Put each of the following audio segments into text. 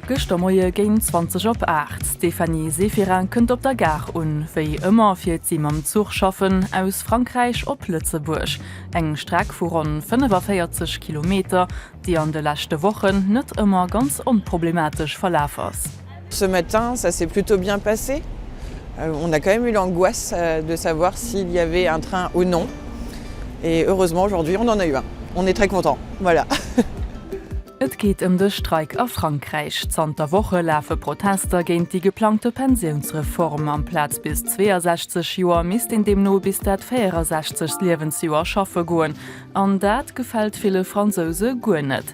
Gëschter Moie géint 20 op 8, d'Stéphanie Séphirin kënnt op der Gare un. Wéi ëmmer fiert si mam Zuch schaffen, aus Frankräich op Lëtzebuerg. Eng Streck vu ronn 45 Kilometer, déi an de leschte Wochen net ëmmer ganz onproblematesch verlaf ass. Ce matin ça s'est plutôt bien passé, on a quand même eu l'angoisse de savoir s'il y avait un train ou non et heureusement aujourd'hui on en a eu un, on est très content voilà. Et geet ëm de Streik a Frankräich. Zanter Woche lafe Protester géint déi geplangte Pensiounsreform. Amplaz bis 62 Joer misst een deemno bis dat 64. Liewensjoer schaffe goen. An dat gefält ville Fransouse guer net.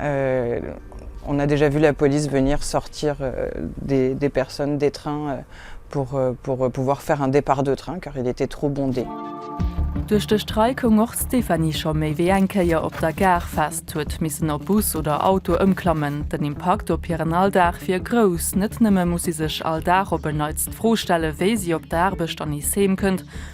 On a déjà vu la police venir sortir des personnes des trains pour pouvoir faire un départ de train car il était trop bondé. Duerch de Streik koum och d'Stéphanie scho méi wéi eng Kéier op der Gare fest, huet missen op Bus oder Auto ëmklammen. Den Impakt op hiren Alldag wier grouss. Net nëmme muss si sech all Dag op en Neits d'Fro stelle wéi si op d'Aarbecht an nees heem kënnt,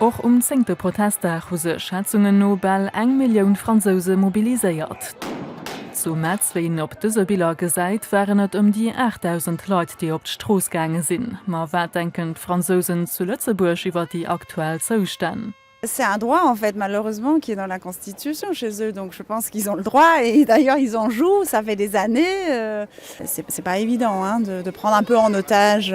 Och um zéngte Protestdag hu sech Schätzungen no bal eng Millioun Fransouse mobiliséiert. Zu Metz, wéi een op dëse Biller gesäit, waren et ëm déi 8.000 Leit, déi op d'Strooss gaange sinn. Ma wat denken d'Fransousen zu Lëtzebuerg iwwer déi aktuell Zoustänn? C'est un droit en fait malheureusement qui est dans la constitution chez eux donc je pense qu'ils ont le droit et d'ailleurs ils en jouent ça fait des années c'est pas évident hein de prendre un peu en otage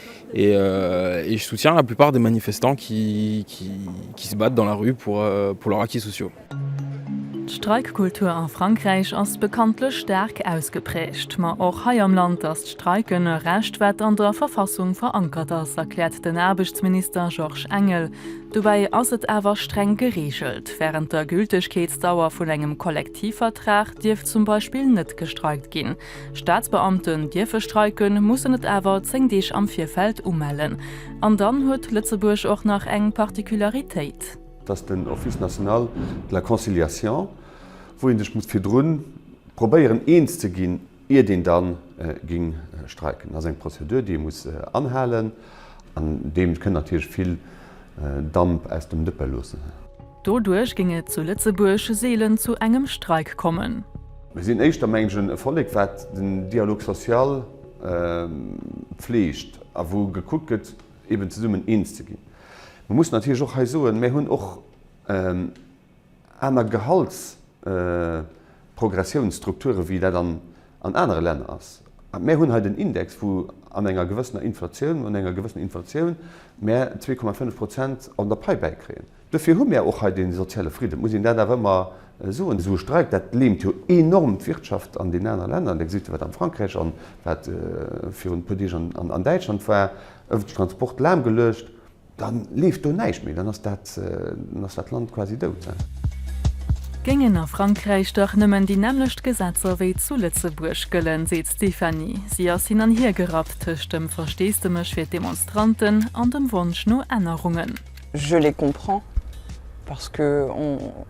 Et je soutiens la plupart des manifestants qui qui se battent dans la rue pour pour leurs acquis sociaux. D'Streikkultur a Frankräich ass bekanntlech staark ausgeprägt. Ma och hei am Land ass d'Streiken e Recht, wat an der Verfassung verankert ass, erkläert den Aarbechtsminister Georges Engel. Dobäi ass et awer streng gereegelt. Wärend der Gültegkeetsdauer vun engem Kollektivvertrag dierf zum Beispill net gestreikt ginn. Staatsbeamten dierfe streiken, mussen et awer 10 Deeg am Virfeld umellen. An dann huet Lëtzebuerg och nach eng Particularitéit. Dass den Office national de la conciliation, wou ee sech muss virdrun probéieren eens ze ginn, iert een da ging streiken, ass eng Prozedur, déi ee muss anhalen. An deem kënnt natierlech vill Damp aus dem Dëppe loossen. Doduerch géing et zu Lëtzebuerg seelen zu engem Streik kommen. Mir sinn éischter, mengen ech, e Vollek, wat den Dialogue social fleegt a wou gekuckt gëtt, eben zesummen eens ze ginn. Mir mussen natierlech och hei soen, Mir hunn och. aner Gehaltsprogressiounsstrukture wéi dat an anere Länner ass. Mär hunn hei den Index, wou an enger gewëssener Inflatioun, un enger gewëssener Inflatioun mär zwee Komma fënnef Prozent an der Pai bäikréien. Dofir hu mär och hei dee soziale Fridden, et muss een dat awer ëmmer soen. Esou e Streik, dat leemt jo enorm d'Wirtschaft an deenen anere Länner. Da gesitt Der, wat am Frankräich an wat virun e puer Deeg an Däitschland war, ëffentlechen Transport lahmgeluecht. Dann leeft do näischt méi, dann ass dat Land quasi dout. Géingen a Frankräich dach nëmmen déi nämmlecht Gesetzer wéi zu Lëtzebuerg gëllen, seet d'Stéphanie. Si ass hin an hier gerappt tëscht dem Versteesdemech fir d'Demonstranten an dem Wonsch no Ännerungen. Je les comprends parce que on.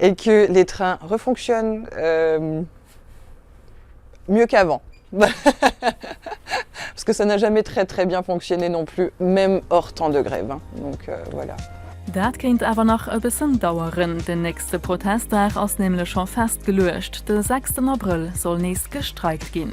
et que les trains refonctionnent mieux qu'avant. Parce que ça n'a jamais très très bien fonctionné non plus, même hors temps de grève. Donc voilà. Dat kéint awer nach e bëssen daueren. Den nächste Protestdag ass nämlech scho festgeluecht, de sechsten Abrëll soll nees gestreikt ginn.